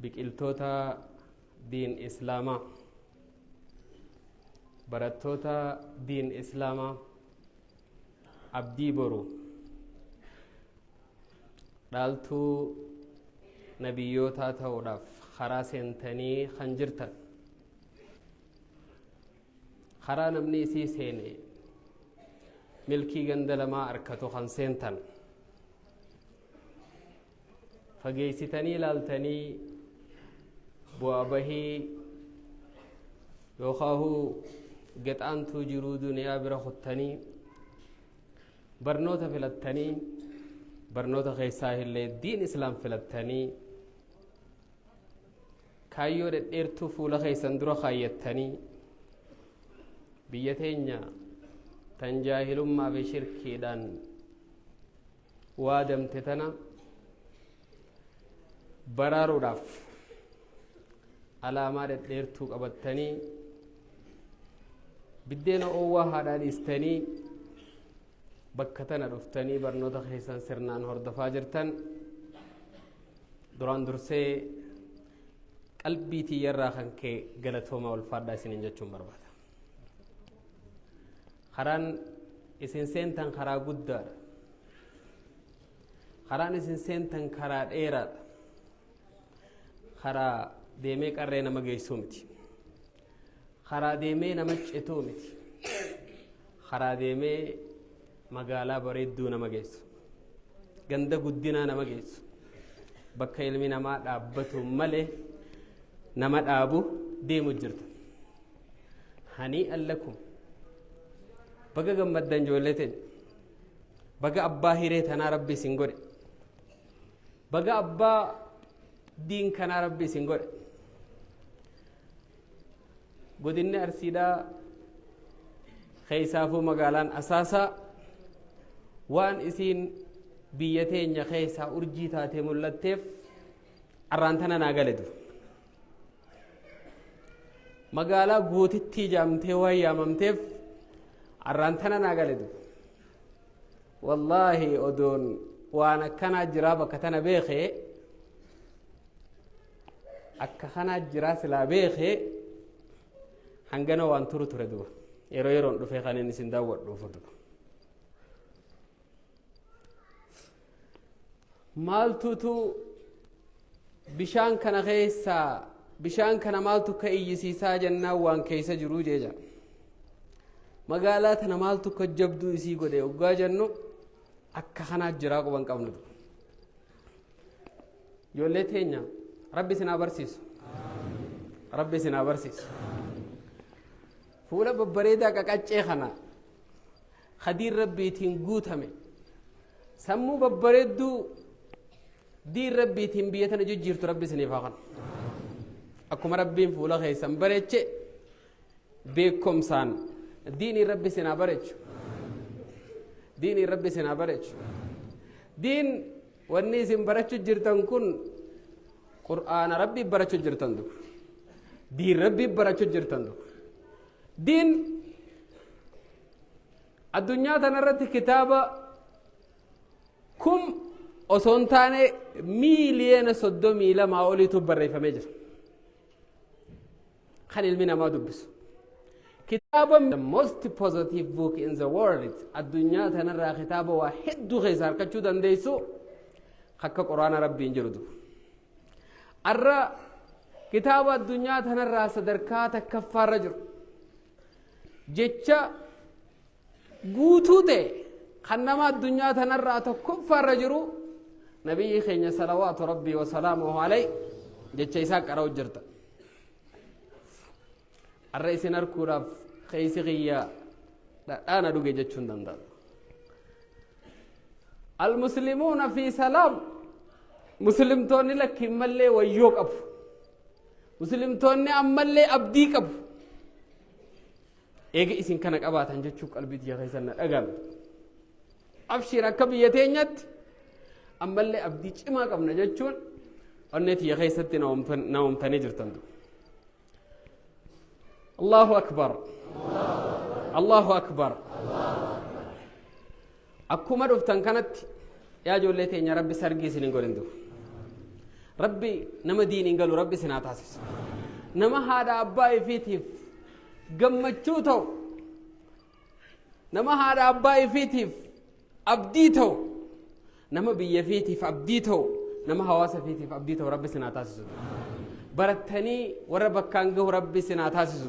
biqiltoota diin islaamaa barattoota diin islaamaa abdii boru dhaaltuu nabiyyootaa ta'uudhaaf karaa seentanii kan jirtan karaa namni isii seene milkii ganda lamaa arkatu kan seentan fageessitanii ilaaltanii bu'aa bahii yookaahu gexaantuu jiruu duniyaa bira kuttanii barnoota filattanii barnoota keessaa illee diin islaam filattanii kaayyoo dhedheertuu fuula keessan dura kaayyattanii biyya teenya tan jaahilummaa fi shirkiidhaan waadamte tana baraaruudhaaf alaamaa dhedheertuu qabattanii biddeena oowwaa haadhaa dhiistanii bakka tana dhuftanii barnoota keessan sirnaan hordofaa jirtan duraan dursee qalbii tiyyarraa kan ka'e galatoomaa ulfaadhaa isiniin jechuun barbaada. karaan isin seentan karaa guddaadha karaan isin seentan karaa dheeraadha karaa deemee qarree nama geessuu miti karaa deemee nama cituu miti karaa deemee magaalaa bareedduu nama geessu ganda guddinaa nama geessu bakka ilmi namaa dhaabbatu malee nama dhaabu deemu jirta hanii allakum baga gammaddan ijoollee teenya baga abbaa hiree tanaa rabbi isin godhe baga abbaa diin kanaa rabbi isin godhe godinni arsiidhaa keessaafuu magaalaan asaasaa waan isiin biyya teenya keessaa urjii taatee mul'atteef arraantana naa galetu magaalaa gootittii jaamtee waan yaamamteef arraan tana naa gale dubbi wallaahi odoon waan akkanaa jiraa bakka tana beekee akka kanaa jiraa silaa beekee hangana waan turu ture duba yeroo yeroon dhufee kan inni isin daawwadhuufu duba maaltutu bishaan kana keessaa bishaan kana maaltu ka iyyisiisaa jennaan waan keessa jiruu jeeja magaalaa tana maaltu ka jabduu isii godhe oggaa jennu akka kanaa jiraa quban qabnu ijoollee teenya rabbi isin haa barsiisu rabbi isin haa barsiisu fuula babbareedaa qaqaccee kana khadiin rabbiitiin guutame sammuu babbareedduu diin rabbiitiin biyya tana jijjiirtu rabbi isiniif haa kanu akkuma rabbiin fuula keessan bareeche beekumsaan diinii rabbi isin haa bareechu diinii rabbi isin haa bareechu diin wanni isin barachu jirtan kun qur'aana rabbii barachu jirtan du diin rabbii barachu jirtan du diin addunyaa tanarratti kitaaba kum osoo hin taane miiliyoona soddomii lamaa oliitu barreeffamee jira. Kan ilmi namaa dubbisu. Kitaaba the most positive book in the world addunyaa tanarraa kitaaba waa hedduu keessa harkachuu dandeessu akka quraana rabbiin jiru du'a. Arra kitaaba addunyaa tanarraa sadarkaa takkaffaarra jiru. jecha guutuu ta'e kan nama addunyaa tanarraa tokkoffaarra jiru nabiyyi keenya salawaatu rabbii wasalaamuhu alay jecha isaa qara'u jirta arra isin harkuudhaaf keeysi kiyya dhadhaana dhuge jechuun danda'a almuslimuuna fi salaam muslimtoonni lakkiin mallee wayyoo qabu muslimtoonni ammallee abdii qabu eega isin kana qabaatan jechuu qalbii tiyya keessan na dhagame abshiir akka biyya teenyatti ammallee abdii cimaa qabna jechuun onnee tiyya keessatti na uumtanii jirtan allahu akbar allahu akbar Akkuma dhuftan kanatti yaa ijoollee teenya rabbi sargii isin hin godhin dur. Rabbi nama diiniin galu rabbi isin haa taasisu. Nama haadha abbaa ifiitiif gammachuu ta'u. Nama haadha abbaa ifiitiif abdii ta'u. Nama biyya ifiitiif abdii ta'u. Nama hawaasa ifiitiif abdii ta'u rabbi isin haa taasisu. Barattanii warra bakkaan gahu rabbi isin haa taasisu.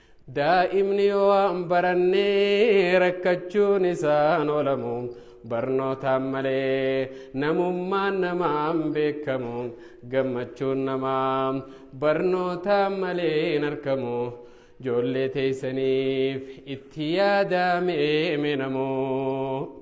Daa'imni yoo waan baranne rakkachuun isaan oolamu barnootaan malee namummaan namaan beekamu gammachuun namaa barnootaan malee hin argamu joollee teessaniif itti yaadaamee minamoo.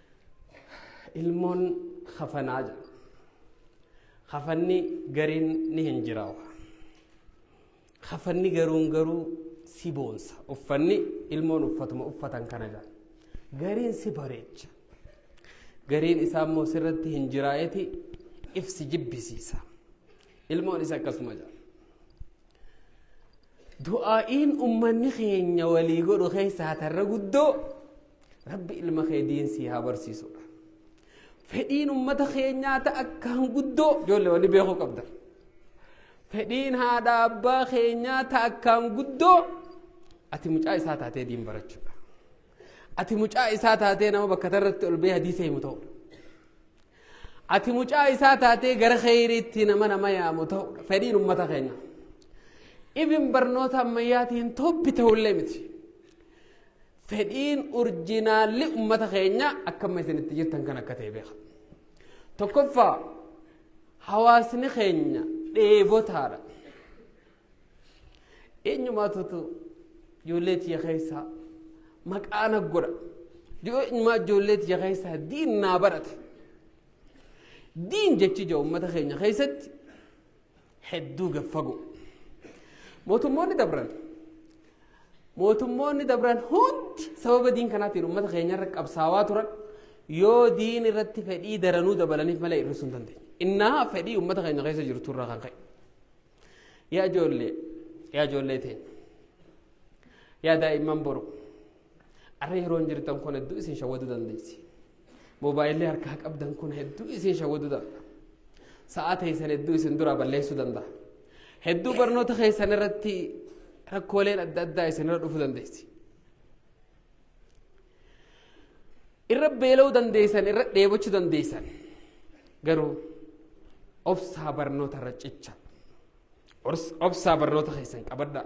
ilmoon kafanaa jedhu kafanni gariin ni hin jiraawa kafanni garuun garuu si boonsa uffanni ilmoon uffatuma uffatan kana jedha gariin si bareecha gariin isaa immoo sirratti hin jiraa'eti if si jibbisiisa ilmoon isa akkasuma jedha du'aa'iin ummanni keenya walii godhu keessaa tarra guddoo Rabbi ilma kee diin sii haa barsiisudha. Fedhiin ummata keenyaa ta akka hanguddoo ijoollee wani beekuu qabda. Fedhiin haadha abbaa keenyaa ta akka hanguddoo ati mucaa isaa taatee diin barachuudha. Ati mucaa isaa taatee nama bakka tarratti ol bee hadiisa himu ta'udha. Ati mucaa isaa taatee gara kheyriitti nama nama yaamu ta'udha. Fedhiin ummata keenyaa. Ibin barnoota ammayyaatiin toppi ta'ullee miti. Fedhiin urjinaalli ummata keenya akkamma isin itti jirtan kan akka ta'e beeka. Tokkoffaa hawaasni keenya dheebotaadha. Eenyumaatutu ijoollee tiyya keessaa maqaa na godha. Eenyumaa ijoollee tiyya keessaa diin naa barate. Diin jechi ija uummata keenya keessatti hedduu gad fagoo. Mootummoonni dabran mootummoonni dabran hundi sababa diin kanaatiin uummata keenyarra qabsaawaa turan yoo diin irratti fedhii daranuu dabalaniif malee hir'isuu hin dandeenye. Innaa fedhii uummata keenya keessa jirtu irraa kan ka'e. Yaa ijoollee yaa ijoollee teenya yaa daa'imman boru arra yeroon jirtan kun hedduu isin shawwaduu dandeessi. Moobaayilli harkaa qabdan kun hedduu isin shawwaduu danda'a. Sa'aa teessan hedduu isin duraa balleessuu danda'a. Hedduu barnoota keessan irratti rakkooleen adda addaa isinirra dhufuu dandeessi. Irra beela'uu dandeessan, irra dheebochuu dandeessan. Garuu obsaa barnoota irra cicha. Obsaa barnoota keessan qabadhaa.